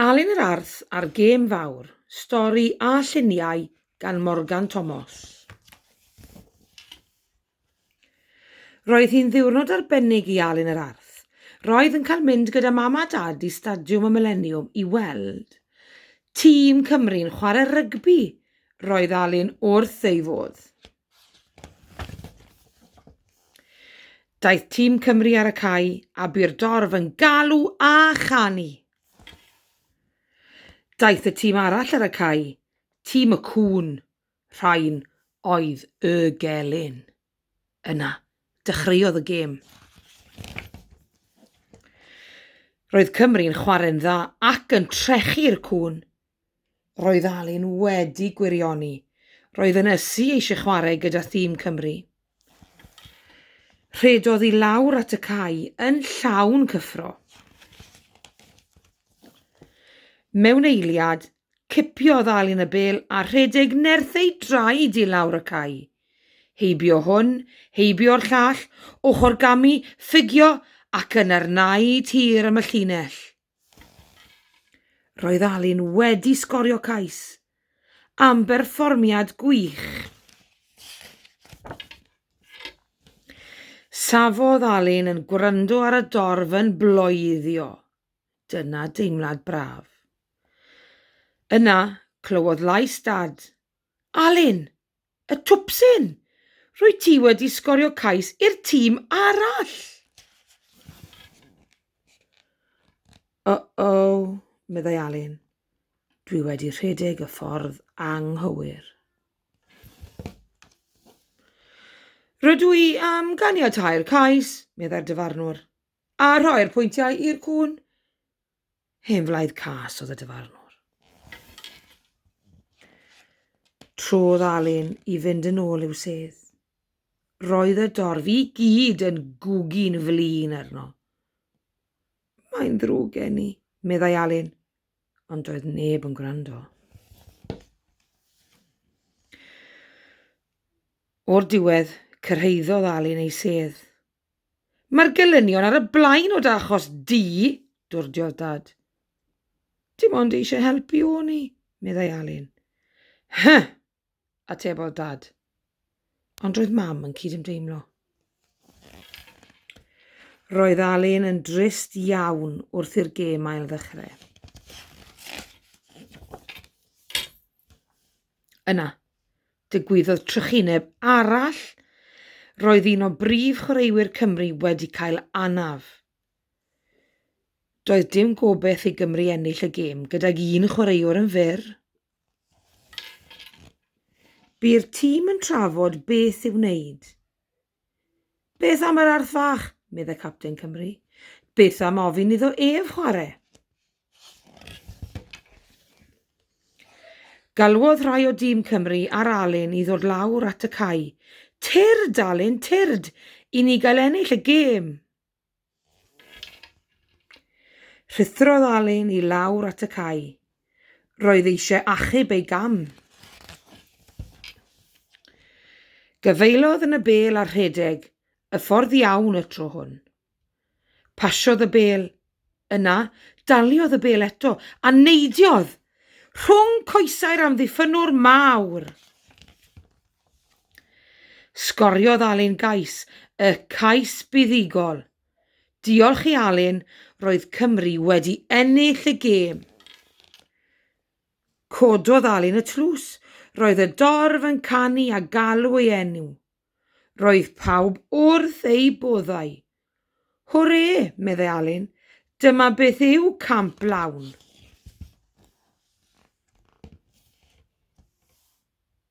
Alun yr Arth a'r Gêm Fawr, stori a lluniau gan Morgan Tomos. Roedd hi'n ddiwrnod arbennig i Alun yr Arth. Roedd yn cael mynd gyda mam a dad i Stadiwm y Mileniwm i weld tîm Cymru'n chwarae rygbi. Roedd Alun wrth ei fodd. Daeth tîm Cymru ar y cae a bu'r dorf yn galw a chanu. Daeth y tîm arall ar y cae, tîm y cŵn, rhain oedd y gelyn. Yna, dechreuodd y gêm. Roedd Cymru'n chwarae'n dda ac yn trechu'r cŵn Roedd Alun wedi gwirioni. Roedd yn ysu eisiau chwarae gyda thîm Cymru. Rhedodd i lawr at y cae yn llawn cyffro. Mewn eiliad, cipiodd Alun y bel a rhedeg nerth ei draed i lawr y cae. Heibio hwn, heibio'r llall, ochr gamu, ffugio ac yna'r naid hir am y llinell. Roedd Alun wedi sgorio cais am berfformiad gwych. Safodd Alun yn gwrando ar y dorf yn bloeddio. Dyna deimlad braf. Yna, clywodd lais Dad Alun, y twpsyn! Rwyt ti wedi sgorio cais i'r tîm arall! Uh-o, meddai Alun. Dwi wedi rhedeg y ffordd anghywir. Rydw i am ganiatau'r cais, meddai'r dyfarnwr, a rhoi'r pwyntiau i'r cwn. Hen flaid cas oedd y dyfarnwr. Trodd Alun i fynd yn ôl i'w sedd. Roedd y dorf i gyd yn gwgi'n flin arno. Mae'n ddrwg gen i, meddai Alun, ond doedd neb yn gwrando. O'r diwedd, cyrhaeddodd Alun ei sedd Mae'r gelynion ar y blaen o dy achos di, dwrdiodd Dad. Dim ond eisiau helpu o'n i, meddai Alun. Huh! atebodd Dad. Ond roedd Mam yn cydymdeimlo. Roedd Alun yn drist iawn wrth i'r gêm ail ddechrau. Yna, Digwyddodd trychineb arall, roedd un o brif chwaraewyr Cymru wedi cael anaf. Doedd dim gobeith i Gymru ennill y gêm gydag un chwaraewr yn fyr. Bu'r tîm yn trafod beth i'w wneud. Beth am yr arth fach? meddai Capten Cymru. Beth am ofyn iddo ef chwarae? Galwodd rhai o dîm Cymru ar Alun i ddod lawr at y cae. Tyrd, Alun, tyrd, i ni gael ennill y gêm! Rhuthrodd Alun i lawr at y cae. Roedd eisiau achub ei gam. Gafaelodd yn y bêl a rhedeg y ffordd iawn y tro hwn. Pasiodd y bêl Yna, daliodd y bêl eto, a neidiodd! Rhwng coesau'r amddiffynnwr mawr! Sgoriodd Alun gais, y cais buddugol. Diolch i Alun, roedd Cymru wedi ennill y gêm. Cododd Alun y tlws, roedd y dorf yn canu a galw ei enw. Roedd pawb wrth eu boddau. Hwrê, meddai Alun, dyma beth yw camp lawn.